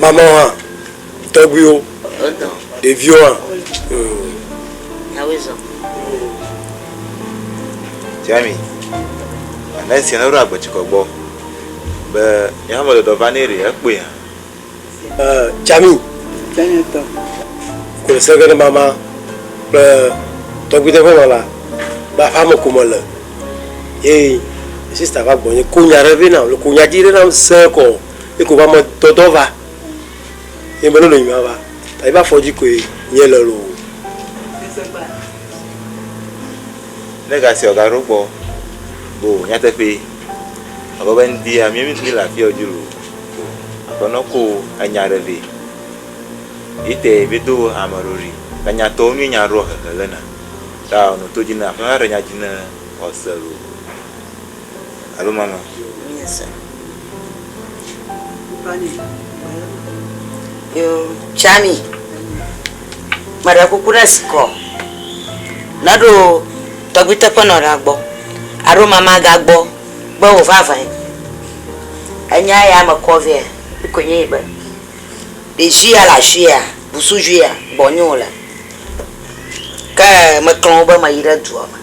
Mamleawo hã, tɔgbuiwo, ɖeviwo hã. Jami, ame esia ne ɖo agbetsikɔ gbɔ be yeha me ɖeɖɔ va nɛ ɖe ekpɔe hã. Ɛɛ Jami, Jamietɔ, kplɔ seke ɖe mama kple tɔgbuide ƒe nɔ la be aƒea me ko me le ye sista va gbɔ nye ko nya ɖe vɛ nam le ko nya dzi ɖe nam se kɔ. Ye ko va me dɔdɔ va. Ye me lolo nyima va. Ta yi va fɔdzi ko ye nye le lo. Ne ga sia ga ɖo gbɔ bo nyateƒe. Abe be ŋdia mi mi le afiɔ dzi lo. Aƒe nɔ ko enya ɖe ve. Yi te vi do ame ɖo ɖi. Ta nya tɔ mi nya ɖo hehe le na. Ta ɔnɔ to dzi na aƒe na ɖe nya dzi na ɔse lo. alo mama. Míese. Yo, Tsami, meɖe kuku ne zi kɔ, ne ɖo tɔgbui teƒe nɔ ɖa gbɔ, aɖo mama ga gbɔ be wo va vɛn. Enya ya me kɔ vɛa, ŋkɔe nye yi be, ɖevi ya le ashia, busuvi ya, gbɔ nyɔ le. Ke me klɔn wo be me yi ɖe dua me.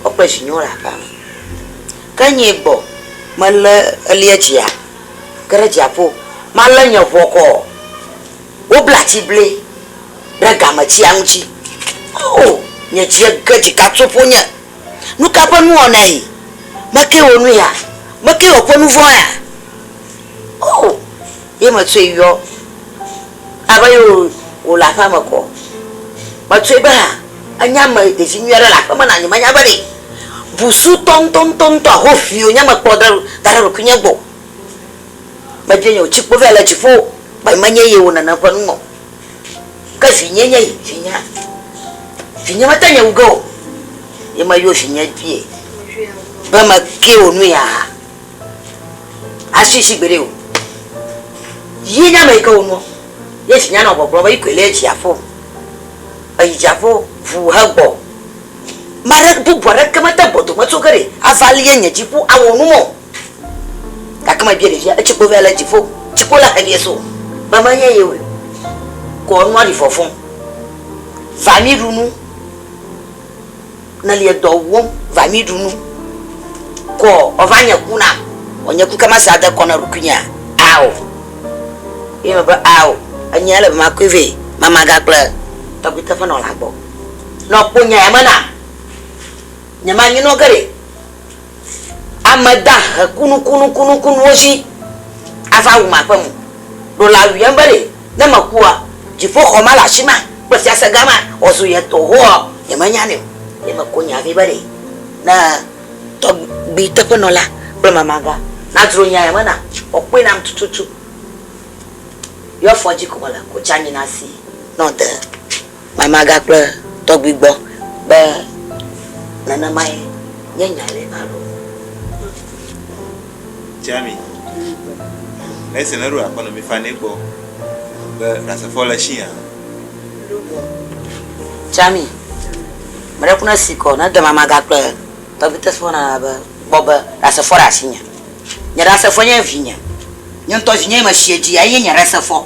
Wo kple vinyewo le aƒea me. Ke nyee gbɔ melé elia dzia, ke ɖe dziaƒo, malé nye ŋɔ kɔ ɔ, wobla atiblɛ ɖe gametsia ŋuti. Oo, nye dzie ge dzika tso ƒonye. Nuka ƒe nuwɔnae mekee wò nu ya? Mekee wòkpɔ nuvɔ̃ ya? Oo. Ye metsɔe yɔ abe ye wòle aƒea me kɔ. Metsɔe be ha enye ame ɖevi nyui aɖe le aƒeme na nyemenya be ɖe busutɔ ŋutɔŋutɔŋutɔ ahoʋi wònye mekplɔ ɖe da ɖe ɖokuinye gbɔ o. Mebia nye wòtsi kpo vɛ le dziƒo be menye ye wò nene ƒe nume o. Ke vinye nye yi, vinyea? Vinye mete ŋu wu ge o. Ye meyɔ vinye be meke wò nu yaa? Asi si gbeɖe o. Yi nye ame yi ke wonɔ ye dzi nya nɔ gbɔgblɔ be yi koe le dziaƒo. Eyi dziaƒo ʋu hegbɔ. Maɖe bubu aɖeke mete gbɔ dome tso ge ɖe ava lie nye dziku awɔ nu mɔ. Gake me bia ɖevia etsikpo vɛ le dziƒo tsikpo la helie so be menye ye woe kɔ nua ɖi fɔfɔ va mi ɖu nu. Neli dɔ wɔm va mi ɖu nu kɔ ɔ va nye ku na ɔ nye ku ke ma sa de kɔ na ɖukui nye a ɔ ye me be a ɔ enye ele be ma kɔe vɛ ma ma ga kple tɔgbi teƒe nɔ la gbɔ nɔ kpo nya ya me na nye ma nyi nɔ ge ɖe Ame da he kunukunukunukunuwo dzi ava wum aƒe mo. Ɖo la wuiam be ɖe, ne mekua, dziƒoxɔ ma le afi ma kple fiase gã ma wòazu ye tɔ hoa nyemenyanɛ o. Ye meko nya vɛ be ɖe, ne tɔgbui teƒenɔla kple mamagã nadzro nya ya me na, wòakpɔe nam tututu. Yewo afɔ dzi ko mele ko tsi anyi na si ne wòde. Mama gakpe tɔgbi gbɔ be nenemae nye nya ɖe alo? Tsami, Nɛsi ne ɖo akɔ nɔ mi fanɛ gbɔ be Ɖasefo le shi a? Tsami, Meɖe ku ne si kɔ ne de mama gakpe tɔgbi tesi wo nana be gbɔ be Ɖasefo le asinye. Nye Ɖasefo nye evinye. Nye ŋtɔ vinye ye me shi edzi ya ye nye Ɖasefo.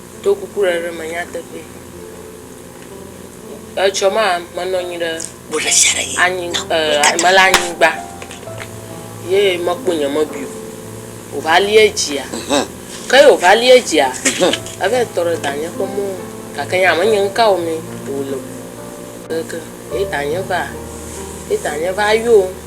Do kuku ɖe ɖe me nyateƒee. Etsɔ ma menɔ anyi ɖe anyi eh, mele anyigba ye mekpɔ nye mebi o. Wòva lia dzia. Ke ye wòva lia dzia, eva yi tɔ ɖe danye ƒe mɔ nu. Gake nye hã menye nu ka wɔmee wòle o. Ke ye danye va, ye danye va yɔm.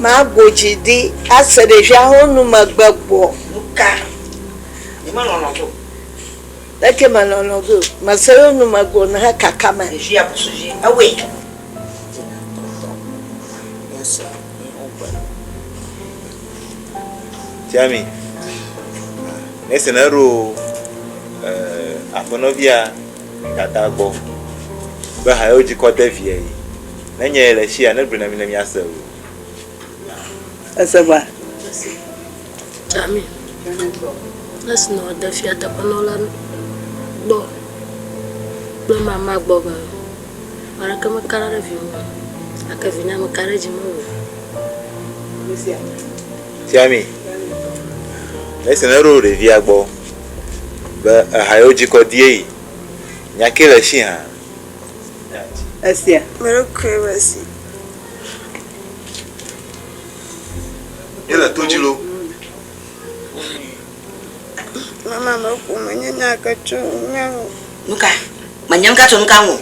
Ma gbo dzi di ase ɖevia ho nu me gbe gbɔ. Nuka yi me lɔlɔ go? Leke me lɔlɔ go? Me se yo nu me gbo he kaka me. Ɖevia busu dzi ewe. Tina tɔ tɔ. Nya se yi ho gbe. Tiami. Nese ne ro eh, aƒenɔvia. Dada gbɔ be ha yewo dzikɔ de via yi ne nye ye le esi ya ne gblɔe na mi ne mia se o. Ese va. Ami. Esi nɔ de fia teƒe nɔ la gbɔ kple mama gbɔ be aleke me kara ɖe vi me ake vi na me kara dzi me o. Tiami. Esi ne ɖo ɖevia gbɔ Be eha yewo dzikɔ die yi. Nya ke le shi hã. Esia. Merry Christmas. Yele to dzi lo. Mama me ƒo me nye nya ke tso nya ŋu. Nuka? Me nye nuka tso nuka ŋu.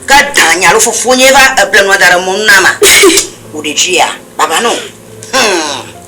Ke da nya lo fofo nye va eble nua da ɖe mɔnu na ma. Wo ɖe dzi ya. Baba no. Hmm.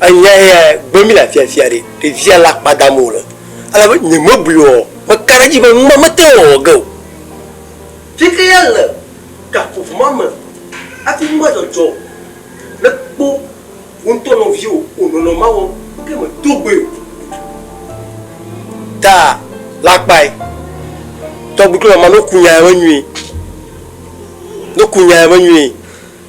Enya ya gbe mí le afiafia ɖe ɖevia le akpa dam o le, elabe nyemebui o, meka ɖe edzi be nu ma mete ŋu wɔ ge o. Ŋkeke ya le gaƒoƒo ma me hafi nu ma dzɔdzɔ ne kpɔ wò ŋutɔ nɔviwò wònɔnɔ ma wɔm gake mèdo gbɔe o. Ta le akpae. Tɔgbi kple mama, ne woku nya ya me nyuie, ne woku nya ya me nyuie,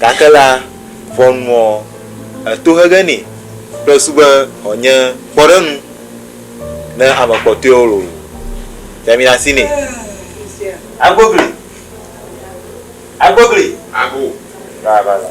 Gake la, ʋɔnuɔ etohege nɛ kple su be wòanye kpɔɖeŋu ne ame kpɔtɔewo lolo fiaminasi nɛ. Agbogli. Agbogli. Ago. Vava la.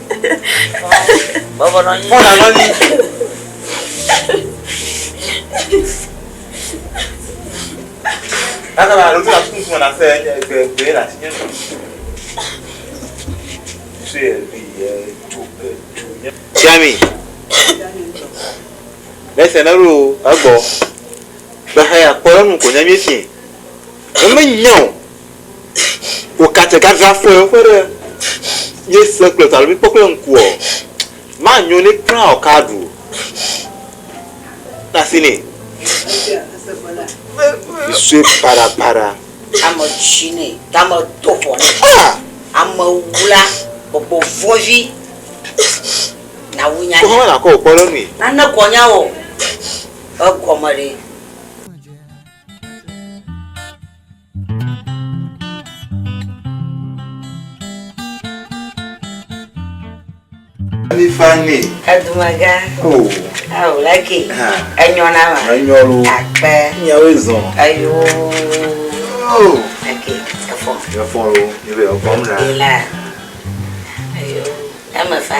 Tiami, mese na ɖo egbɔ. Gbexa ya kpɔ enu ko nya mi si. Eme nyao. Wò katse gagra fɔe ƒe ɖe mí se kple ta lo mí kpɔ kple ŋku ɔ, ma nyo nɛ kpla ɔ ka ɖu na si nɛ. Yi sue para para. Ame tsi nɛ, tame do vɔ nɛ. Ah! Ame wula gbɔgbɔ vɔvi na wu nya. Ko hɔn na kɔ wò kpɔ ɖe nui. Na ne kɔ nya wò ɔ, egɔme ɖe. Ami fani. Edumaga. O. Awo laki. Enyɔ na ma. Enyɔ lo. Akpɛ. Nyawo ezɔn. Ayo. O. Eke efɔ. Efɔ lo. Ebe efɔ mu na. Ela. Ayo. Eme fa.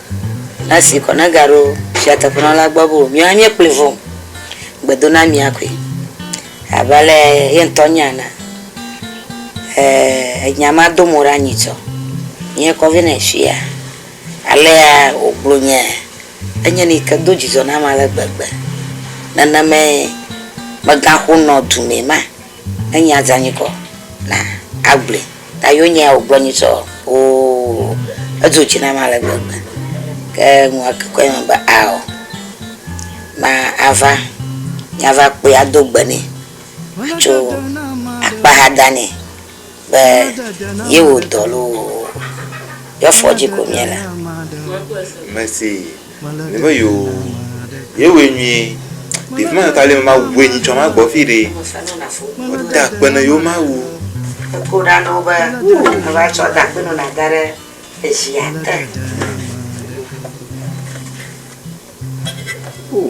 Esi kɔna gaɖo fia teƒenɔla gbɔ be wòbiɔ anye kplii vɔ o, gbedo na mía koe. Abe ale ye ŋutɔ nya enea, ee, nya ma do mo ɖe anyi tsɔ. Nye kɔ vɛ nɛ fia. Alea wògblɔ nye enye nu yi ke do dzidzɔ nam ale gbegbe. Nenemae megaxonɔ dumɛ ma. Enyi aza nyikɔ na agble ta yo nyɛ o gblɔ nyitsɔ oo edzo dzi nam ale gbegbe ke nua ke kɔe me be ao ma ava nyava kpɔe ado gbe nɛ atso akpa ha da nɛ. Be yewo dɔ loo, yɔ fɔ dzi ko mie le. Mese ne be yo ye we nyuie ɖevi ma ta le ma we nyi tsɔ ma gbɔ fi ɖe o da kpe ne yo ma wu ko ɖa no be o va tsɔ da kpe no na da ɖe eji ate o.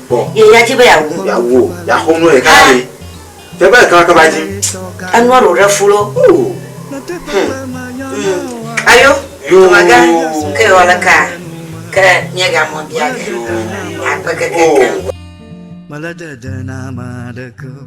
Kpɔ. Ye ya dzi be yeawu. Yeawu o. Yeaxɔ nu ɖeka na mi. Tɛgbe ɖeka ma ke va dzi. Enua ɖo ɖe fu lo. Oo. Hum. Hum. Ayo. Yoo. Dɔmagã. Ke yewɔ le kaa. Ke miega mɔ bia ge. Yoo. Akpe kekekeŋ. Mele dede na ame aɖeke o.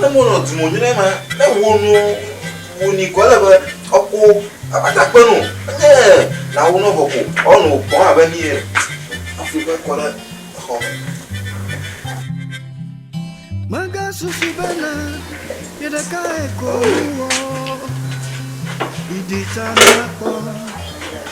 ne mo nɔ dumo nyuɖe ma ne wo nu wo ni kɔ le be ɔko abata kpe nu ne na wo nɔ vɔ ko ɔnu kɔ abe ni yɛ afi kpe kɔ ɖe exɔ me. Mega susu be na ye ɖeka eko wɔ. Idi ta na kpɔ.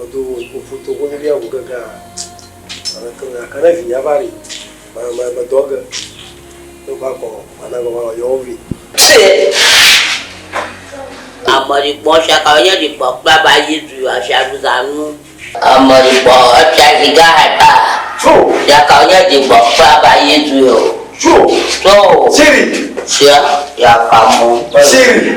Odo ovu to ŋu bia ŋu gege a ame ke me aka ne vi ya va ri ma ma ma dɔ ge ne va kɔ ma na gɔ va yɔ wo vi. Ame ri kpɔ sia ka ye ri kpɔ kpla ba yi zu ya sia zu za nu. Ame ri kpɔ sia zi ga ha ta su ya ka ye ri kpɔ kpla ba yi zu yo su so siri sia ya ka mo siri.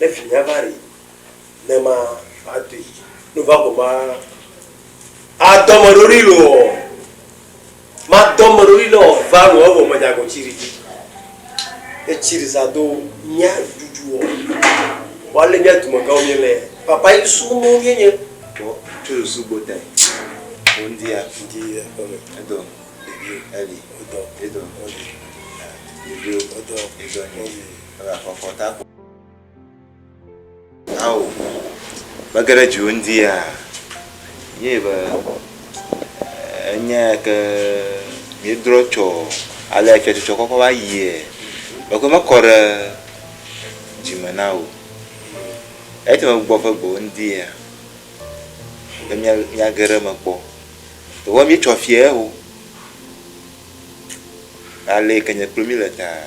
Ne vinya va ɖi, ne ma va dui. Nu va ko ma a dɔ me ɖo ɖi lo ɔ. Ma dɔ me ɖo ɖi nɔ va lo ɔ vɔ me dza go tsi ɖi. E tsi ɖi sa do mia dudu ɔ. Wa le mia dume gã mi le. Papa yi su mo mi nye. Ko tu lo su bo te. Ko ndi ya. Ndi ya ko me. E do. Ndi ya. E li. E do. E do. E li. E do. E do. E do. E do. Egaxɔxɔ ta ko. Ao, mege ɖe dziwò ŋdi ya. Ye be enya ke míedrɔ tsɔ ale fiatsɔtsɔ kɔkɔ va yie. Mekɔ mekɔ ɖe dzime na wò. Ete me gbɔ ƒe gbɔwò ŋdi ya. Be mía míage ɖe eme kpɔ. Vɔ míetsɔ fiae ho. Ale yi ke nye kplo mí le taa.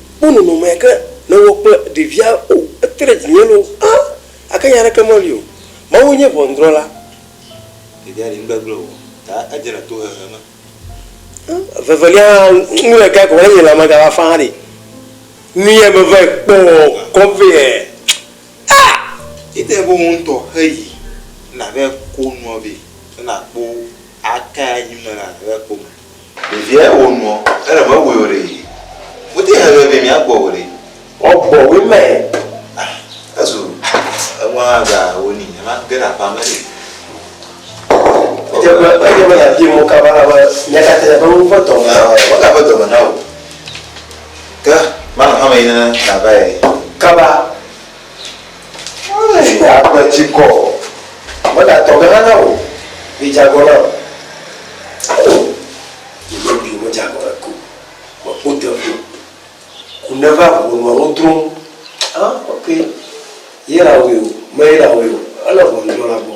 kpɔ nɔnɔme yake nèwɔ kple ɖevia o, ete ɖe dzinye loo hã, gake nya aɖeke meli o. Mawue nye ʋɔnudrɔ̃la. Ɖevia ɖi nugbegblẽ o, ta edze le tohehe me. Evevelia hã, nu le gai ko be ne nye lãme gava faa ɖe, nu ye meva yi kpɔ kɔ vɛ ɛ. Aa! Ede be wò ŋutɔ heyi ne nàva yi ko nua vɛ, ne nàkpɔ wo, aka ye anyi me na nàva yi kpɔ me. Ɖevia ya wɔ nuɔ, ele mewɔe o ɖee. Wote hɛn vevie mia gbɔ o ɖe. Wɔ gbɔ woe mɛ. Ah, ezu eŋua hã ga wo ni, ema ge ɖe aƒa me ɖe. Edze be, edze be ya bia mɔ ka va la be, mia katã ya be wo ƒe dɔ me. Ah, wo ga ƒe dɔ me na wo. Ke, ma nɔ hame yi ne na va ye. Kaba, Eye nye agbe dzi kɔ o, mele atɔ ge hã na wò, vi dze agɔ nam. Oo, nye ɖokuiwo medze agɔ na ke o, meƒo te ƒu, ku neva ʋu nɔa nu drom. Ã, ok, ye lãwoe o, meye lãwoe o, ele ʋɔnudrɔ̃la gbɔ.